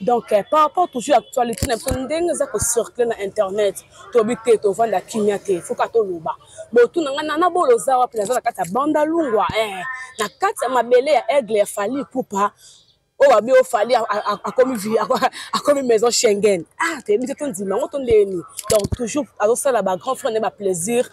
donc eh, par rapport toujours actualité na biso ndenge eza kocircule na internet toyebi te tovanda kimia te foka toloba botu na ngai nana bolo oza wapi naza na kati ya banda lungwa eh, na kati ya mabele ya aigle ya fali pupa oyo abi oyo fali akomi maison schengen ah toyebi te tondima yango tondeni donc toujours azosala bagrand frère nde baplaisir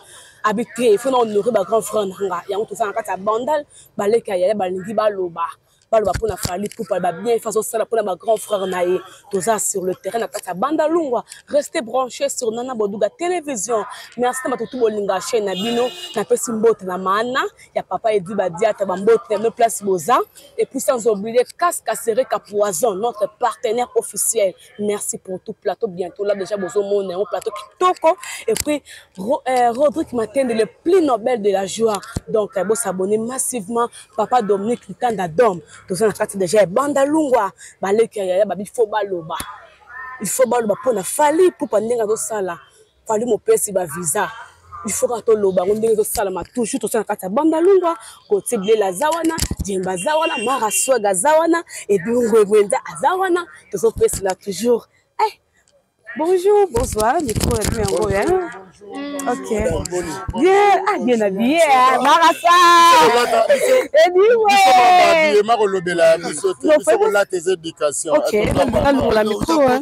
abi te fo na honore bagrand frère na nga yango toza na kati ya bandal baleki ya yaya balingi baloba baloba mpona fali pupa ba bien fa azosala mpona ba grand frère na ye toza sur le terrain na kati ya banda lungwa reste branché sur nana boduga télévision merci na bato tu bolinga chaîne na bino napesi mbote na maana ya papa edi badiata bambote na bino place boza et puis sans oublier cascasere ka poison notre partenaire officiel merci pour tout plateau bientôt là déjà bozo mona yango plateau kitoko et puis Ro, euh, Rodrigue Matende le plus nobel de la joie donc euh, bosabonne massivement papa Dominique Litanda Dom toza na kati déjà ebanda lungwa baleki ya yaya babi fo baloba il faut baloba mpo na fali pupa ndenge azosala fali mopesi ba visa il faut kaka toloba yango ndenge ezosalama toujours tosa na kati ya banda lungwa kotie bilela aza wana jemba aza wana mara swag aza wana ebingwegwenza aza wana tozopesela toujours eh, bonjour bonsoir mikro ya bino yango ya ok bien ah bien habillé mara saediwe makolobela ya biso te biso kolata eza éducation alongola mikro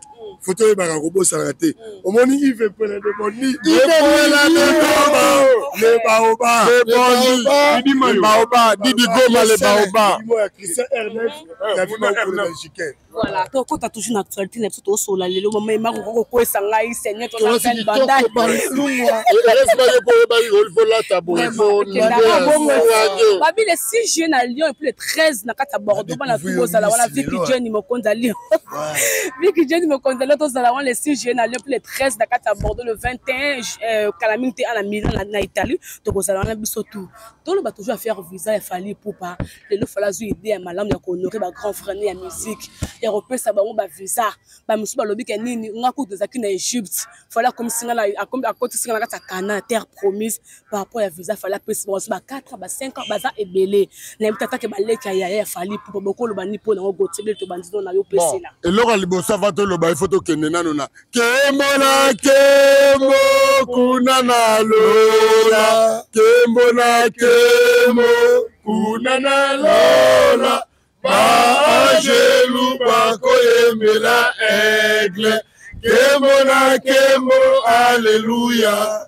foto oyebaka kobosana te omoni ive pele de boni ipela de goma le baoba baoba didi goma le baoba voilà tokota toujours na actualité na biso toosolola lelo mama emako kokokwesa ngai seigneur tonabandababi le 6 juillet na lyon epuis le 13 na kati ya bordeaux bana tu bozala wana vipi jeni mokonzi ya lyon Mickey Jenny mokonzi lelo tozala wana le 6 juillet na Lyon le 13 na kati ya Bordeaux le 21 euh, kala mingi te ana Milan na, na Italie tokozala wana biso tout toloba toujours affaire visa ya Fally Ipupa lelo Fally azwi idée ya malamu ya kohonore ba grand frère ya musique ya kopesa bango ba visa ba misusu balobi ke nini nga kutu ezalaki na Egypte Fally akomisi nga akotisi nga na kati ya Cana terre promise par rapport ya visa fali apesi bango ba 4 ba 5 ans baza ebele nayebi tata ke baleki ya yaya ya fali pupa bokoloba ni mpo nango gotiebele tobandi no na yo pesela eloko ya liboso ava toloba ifo tokende nano na kembo na kembo kuna na lola kembo na kembo kuna na lola baangelu bakoyembela aigle kembo na kembo aleluya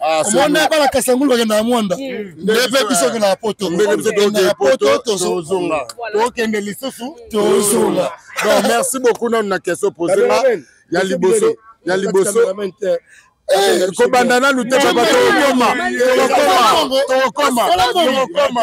Ah, omoni bana kasangulu bakendaka mwanda hmm. ndebe biso okendaka poto okendaka poto tozonga tokende lisusu tozonga donc merci beaucoup nanu na question pose nga ya liboso ya liboso eh, kobanda nanu te papa tokokoma tokokoma tokokoma tokokoma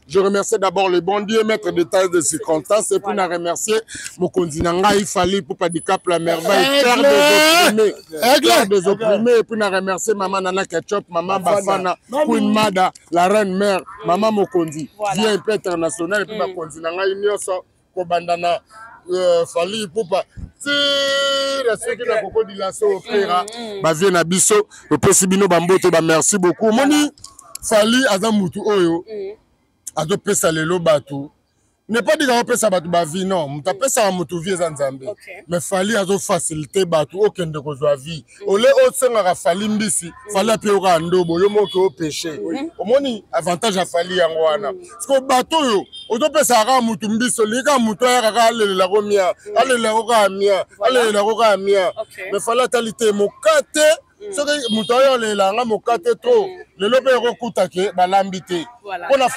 Je remercie d'abord le bon Dieu, maître de taille de circonstances, et puis na remercier Mokonzi Nangai, Fali, Poupa Dicap, la merveille, père des opprimés, père des opprimés, et puis na remercier Maman Nana Ketchup, Maman Bafana, Queen Mada, la reine mère, Maman Mokonzi, Dieu un peu international, et puis Mokonzi Nangai, Nyoso, kobanda na euh, fali ipupa tira soki na koko dilaso opera mm, mm. bavie na biso topesi bino bambote bamerci beaucoup omoni fali aza mutu oyo mm. azopesa lelo bato ne pas dire apesa bato bavie non moto apesaka moto vie eza nzambe mais fali azofacilite bato okende kozwa vie ole osengaka fali mbisi fali apeyokaka ndobo yo moke opeshe omoni avantage ya fali yango wana siko bato oyo ozopesaka kaka motu mbisi olingi kaka motu ayaka kaka alelelako mia alelelako kaka mia alelelako kaka mia me fali atali te mokate mm. soki moto ayo olelela yanga mokate tro mm. lelo mpe ekokutake balambi te mpo na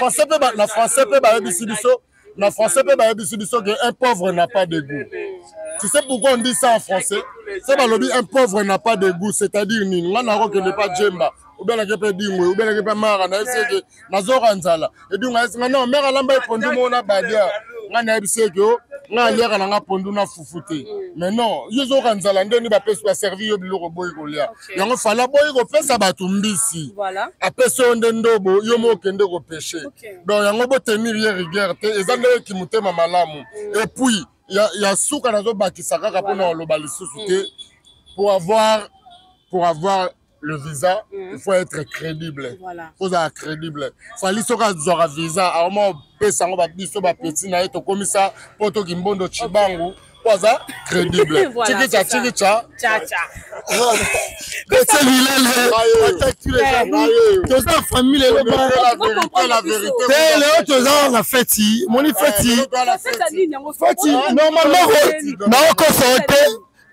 français mpe bayebisi biso Na français pe bayebisi biso que un pauvre n'a pas de goût. Tu sais pourquoi on dit ça en français? C'est balobi un pauvre n'a pas de goût, c'est-à-dire nini? Nga nako kende pa Djemba, ou bien nake pe Dingwe, ou bien nake pe Mara, na yebisi que nazo ranzala. Et donc nga yebisi nga non, mère alamba epondu mo na badia. Nga na yebisi que oh, nga aliaka na nga pondu na fufu te mais non yo ozoyoka nzala nde nde bapesi baservi yo biloko boyi kolia yango fala boyi kopesa bato mbisi apesi yo nde ndobo yo mo okende kopeshe donc yango botenir ye rigueur te eza ndenge kimotema malamu epuis ya, ya suka nazobakisa kaka mpo na oloba lisusu te pour avoir pour avoir le visa mm. il faut être crédible voilà. kozala crédible fali soki azwaka visa aoma opesa yango babiso bapeti na ye tokomisa mpo tokimbondo cibangu okay. po aza crédible chikicha chikicha ese lilele toza famille lelo te lelo toza na feti moni feti feti normalement naokosa yo te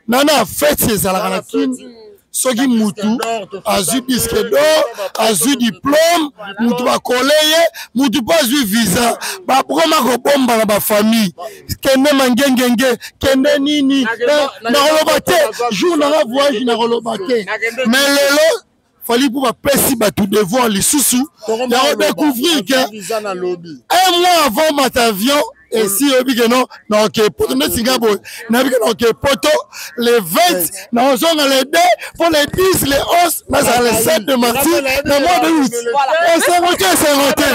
nana feti ezalaka na kini soki mutu azwi disque d'or azwi diplome mutu bakole ye mutu mpe azwi visa bakoma kobomba na bafamille kende mangengenge kende nini eh, nakoloba te jour nanga voyage nakoloba te me lelo fali mpo bapesi bato devoir lisusu ya kodecouvrir ke un mois avant matavion esi oyebi ke no naoke poto nde singa boye nayebi ke naoke poto le 20 naozonga le 2 mpo le 10 le 11 nazala le 7 de marti na mois de août esengo te esengo te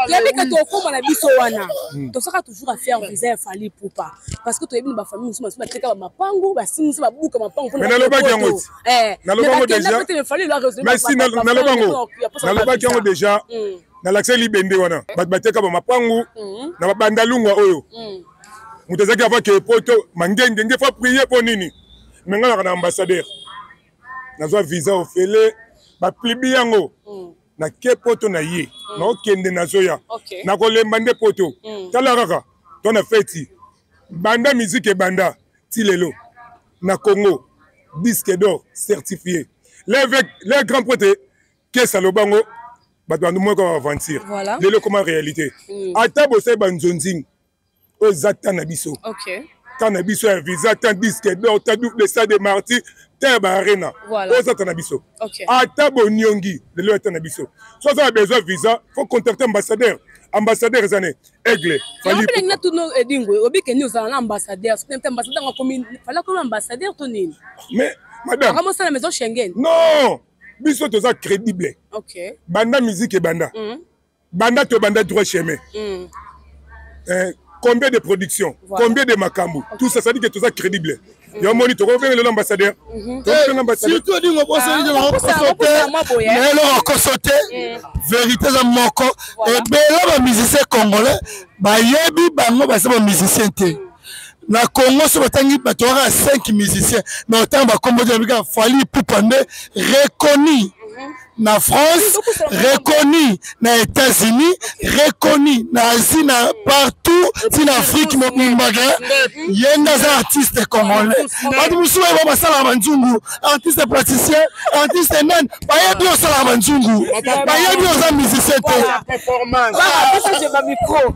toyebi ke tokoma na biso wana hmm. tosaka toujours affaire visa ya fali poupa parce que toyebi na bafamille mosusu basusu bateka bamapangu basimisi babuka mapangu nalobaki yango eh, naloba yango dejamerci naloba yango nalobaki yango deja mm. nalakisaki libende wana eh. bato bateka bamapangu mm. na babandalungwa oyo mm. moto azalaki ava ke poto mangenge nge fa prie mpo nini me ngai naka na ambassadeur nazwa visa ofele baplibi yango nake poto na ye naokende nazoya nakolemba nde poto tala kaka to na feti banda miziki ebanda ti lelo na congo disque d'or certifié levec le grand prêtre kesa aloba ngo bato bandu moko ya aventure Voilà. lelo ekoma réalité Mm. ata bosali banzonzing oyo eza temps na biso Okay. temps na biso ya visa temps disque d'or temps double stade de martyr temps ya baarena Voilà. oyo eza temps na biso okay. ata boniongi lelo ata na biso so aza na besoin visa faut contacter ambassadeur ambassadeur eza ne aigle falipelengi na tuno edingo eh, obi keni ozala na ambassadeur soki mpe ambassadeur akomi fali akomi ambassadeur to nini mais madame akomi osala maison schengen non biso toza crédible okay. banda musique ebanda mm -hmm. banda tobanda droit chemin mm. eh, combien de production voilà. combien de makambo okay. tout ça ça dit que toza crédible mm. yo moni tokobenga lelo ambassadeur mhm. tokobenga ambassadeur surtout odingo ah, bosote na eloko okoso te eh. vérité eza moko ebele bamusicien congolais bayebi bango baza bamusicien te mm. na congo so batangi bato kaka 5 musicien na otango bakombo te babika fali pupa nde reconnu mhm. na France, reconnu na États-Unis, reconnu na Asie, na partout, ti na Afrique mobimbaga, yenda za artiste congolais. Batu musuwa ba basala manzungu, artiste praticien, artiste nani, bayebi osala manzungu, bayebi oza musicien te. Performance. Ah, ça c'est ma micro.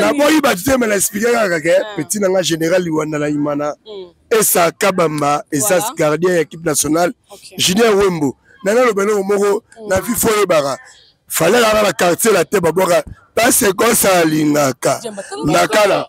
naboyi bato te me na explike kaka ke ah. petit na nga général liwanda na imana hmm. esa kabamba esa gardien ya équipe nationale julien wembo na naloba eloko moko hmm. na vi fo oyebaka falelaka na quartier la te babwaka pase kosa alingaka nakala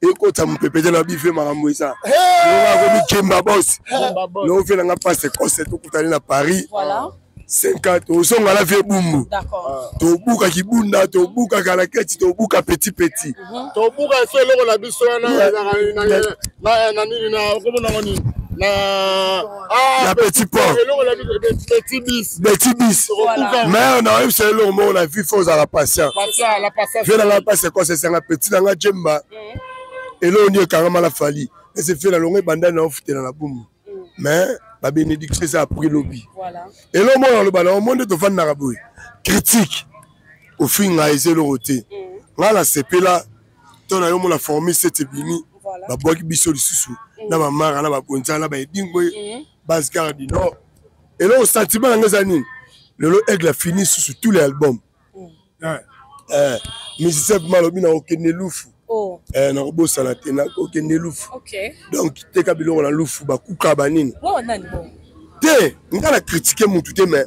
ekota mopepete na bife makambo eza akomi kemba bos nofe nanga pase kose tokutani na paris 5 tozonga na vie bumbu tobuka kibunda tobuka kalaketi tobuka petit petit mhm. tobuka efe eloko na biso wana na nini na okomonango nini na Ah, ya petit port betibis mais na oyebisa eloko moko na vie fo ozala patient vie na ngai mpasi ekosa esanga petit na ngai jemba eh. eloko nini ekangama na fali ese fie na longo ebandani na ofutela na bumu mm. mais babenediction eza apres lobi eloko moko naloba na omo nde tofandaka boye critique ofinga eza eloko te mm. ngai nasepela to na yo mona formi sete bimi babwaki biso lisusu mm. na bamara na babonza na baedingo mm. base gare du nord eloko sentiment yango eza nini lelo aigle afini susu tous les albums mm. eh, eh, musicien bima alobi na okende lufu oh. eh, nakobosana te nakokende lufu donc teka biloko na lufu bakuka banini te nga na kritike mutu te mais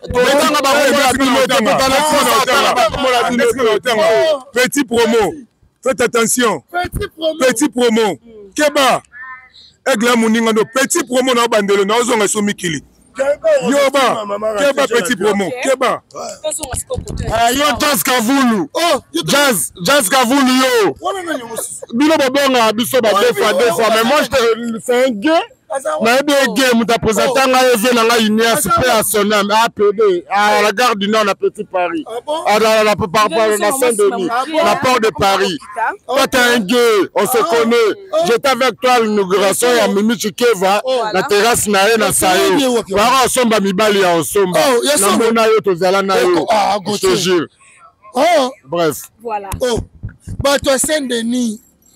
tokanga baoyoaotanga petit promo faites attention petit promo keba aigle ya moninga ndo petit promo na obandelo na ozonga so mikili yoba keba petit promo keba eh, yo jazz kavulu oh, jazz jazz kavulu yo bino bobonga biso ba deux fois deux fois mais moi c'est un gay nayebi ege moto apresenta ngai eve na ngai unias mpe ya sonam apd à la gare du nord na petit paris na saint denis na port de paris toi t'es un gay on se connaît j'étais avec toi l'inauguration ya mimi chikeva na terrasse na ye na sayo baka osomba mibali ya osomba namona yo tozala na yo je te jure bref bato ya saint denis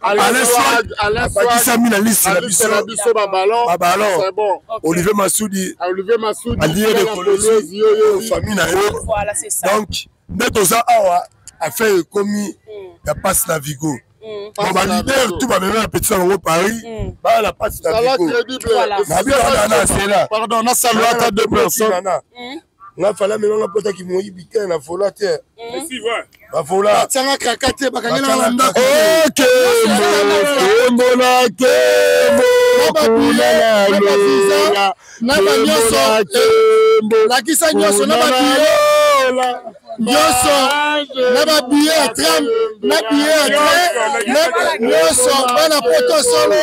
abakisami na lisi na biso babalon olivier masudi alie de kolesi famille na ye donc nde toza awa affaire ekomi hmm. ya passe na vigo Mm. baleader tout bamemi na petit na bango paris mm. baa na pasi na biko na bino wana na sela pardon nasalwata deux personnes mm. nga fala mema nga pota ki moyibi te na fola te bafola atianga kaka te bakangela na ndako kembo na kembo na banyonso lakisa nyonso na babiye nyonso na babiye ya tram na biye ya tram nyonso bana poto solo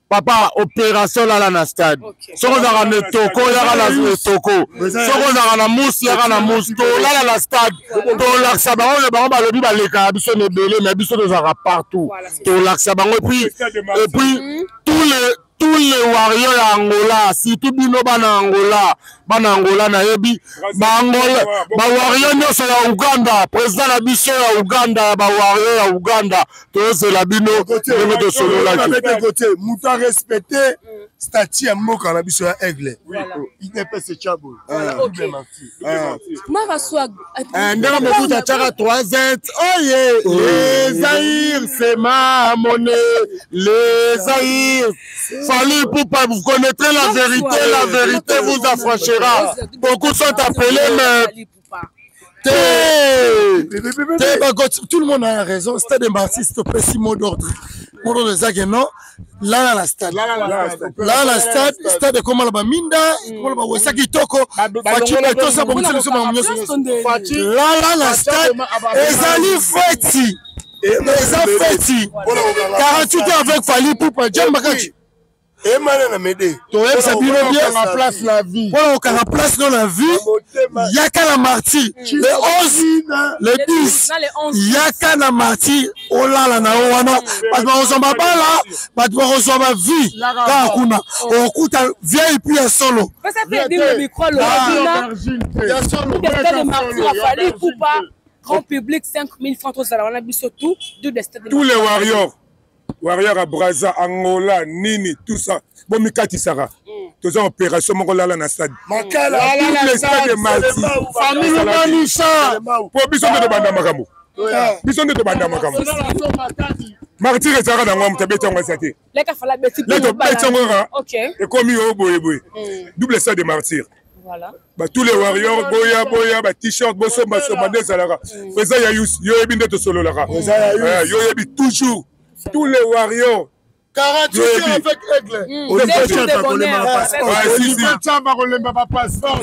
papa operation lala na stade soki ozalaka na etoko yaka na etoko soki ozalaka na musi yaka na musi tolala na stade tolakisa bango na bango balobi balekaka biso na ebele mais biso tozalaka partout tolakisa bango epuis epuis mhm. tous les tous les warriors ya angola surtout bino bana angola bana angola nayebi baangola bawarrior nyonso ya uganda président na biso ya uganda ya bawarrior ya uganda tozela bino ndenge tosololaki moto arespecte mm. stati ya mboka na biso ya aigle idps cabo ndenge mobutu atyaka 3 oye lezair sema mone lezair fali pupa vous connaîtrez la vérité la vérité vous affranchira beaucoup sont appelés mais tout le monde a raison stade mbartis topesi mot d'ordre mot d'ordre eza ke non lala na stade lala na stade stade ekoma na baminda ekoma na bawesa kitoko faci etosa bongisa biso bango nyonso lala na stade ezali feti eza feti 48 avec fali pupa john makaci emana na mede toyebisa bino bienga place na vie mpona kokanga place no na vie yaka na martyr le 11 le 10 yaka na martyr olala na yo wana bato bakozwa mabala bato bakozwa bavie kaka kuna okokuta vieille pi ya solo grand public 5000 francs tozala wana biso tout tous les warriors warrior ya braza angola nini tout ça bomikatisaka mm. toza opération moko lala na stade stade matisalisa mpo biso nde tobanda makambo biso nde tobanda makambo martir ezalaka na yango moto abeti yango esa te leta obeti yango kaka ekomi yo boyeboye double stade de martire Voilà. tous les warriors boya boya ba t-shirt bosomba somba nde ezalaka mm. eza ya yusi yo oyebi nde tosololaka eh, yo oyebi toujours tous les warriors 48 heures avec aigle oliviechamba kolemba bapasseport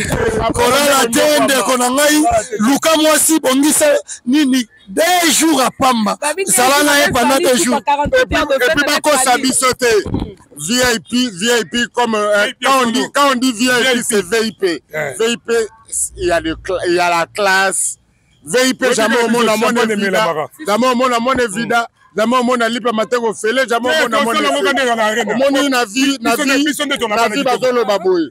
kolala te ndeko na ngai luka mwasi bongisa nini deux jours à pamba zala na ye pendant deux jours epuis bakosa biso te vip vip comme euh, quand, on dit, quand on dit vip c'est vip vip il y, a le, il y a la classe vip jamais omona mona evida jamais omona mona evida zama omona lipa mateko fele zama omona omoni na vie na vie bazoloba boye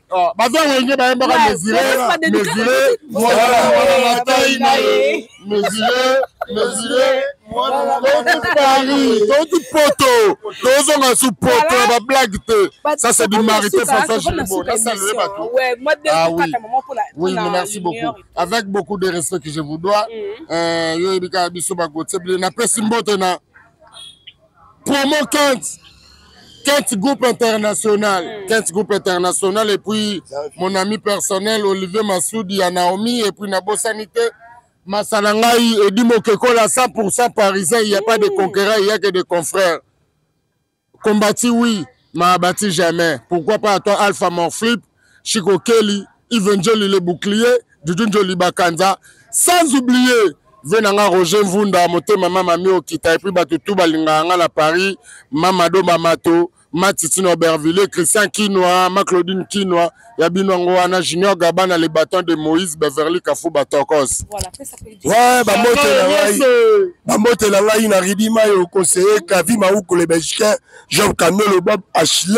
Ah, baza wenge bayembaka mesure mesure mwana na tai na ye mesure mesure touti paris touti poto tozonga su poto ya bablage te ça c'est du marité françois gilbo nasalele bato ah oui oui merci beaucoup avec beaucoup de respect que je vous dois mm. euh, yo yebikaka biso bagotie bile napesi mbote na promo kent kent groupe international mm. kent groupe international et puis mon ami personnel olivier masudi ya naomi et puis nabosani te masala ngai edi mokekola 100 parisien il y a pas de mm. conquérant il y a que de confrères combati oui ma abati jamais pourquoi pas à toi alpha morflip Chico Kelly, Yves Njoli le bouclier, Dudu Njoli Bakanza, sans oublier ve na nga Roger Mvunda motema mama mi okita epuis bato tu balingaka nga na Paris mama domba mato ma Titine Aubervilliers Christian Kinwa ma Claudine Kinwa ya bino yango wana Junior Gabana le bâton de Moïse Beverly Kafuba Tokos Voilà, fais ça plus Ouais, bambote na ngai bambote na ngai na Ridima yo conseiller Kavi Maukule Belgicain Job Kanolo Bob Ashley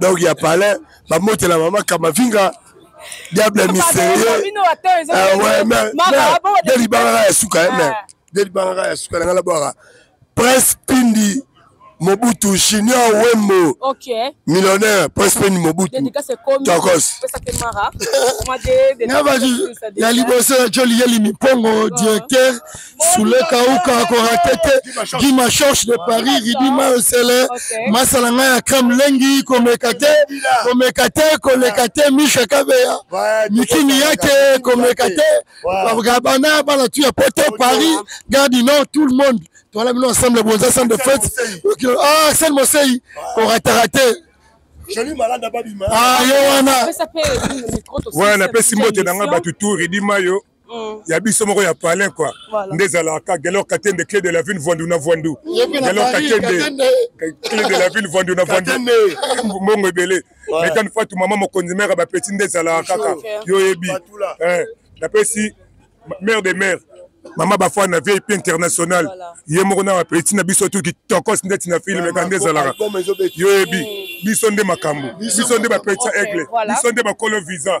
donc ya palais bamotela mama kamavinga diable mystérieux delibangaka ya suka eh, ah. delibangaka ya suka na ngai nabwaka prince pindi mobutu junior wembo okay. millionnaire prince pindi mobutu tokos ya liboso ya joli yeli mipongo ah. directeur Soule Kauka akorate te Guy Machorche de Paris Ridi Maosele masala ngai ya crème lengi komeka te komeka te koleka te Misha Kabeya mikini yake komeka te Gabana bana tu ya poto Paris Gare du Nord tout le monde toala bino ensemble bonza centre de fête ah Sen Mosei korataka te joli malade ababima ah yo wana wana apesi mbote na ngai bato tour edima yo Mm. ya biso moko ya palin kua nde ezalaka gelor katende cle de la ville voindu na voindu gelor katende cle de la ville voindu na voindu mbongo ebele metan fatu mama mokonzi mare bapeti nde ezalaka kaka yo oyebi eh, napesi mare de mare mama bafana na vip international ye moko na bapeti na biso tu kitokos ndeti na filme ka nde ezalaka yo oyebi mm. biso nde makambo biso nde bapetisa aigle biso nde bakolo visa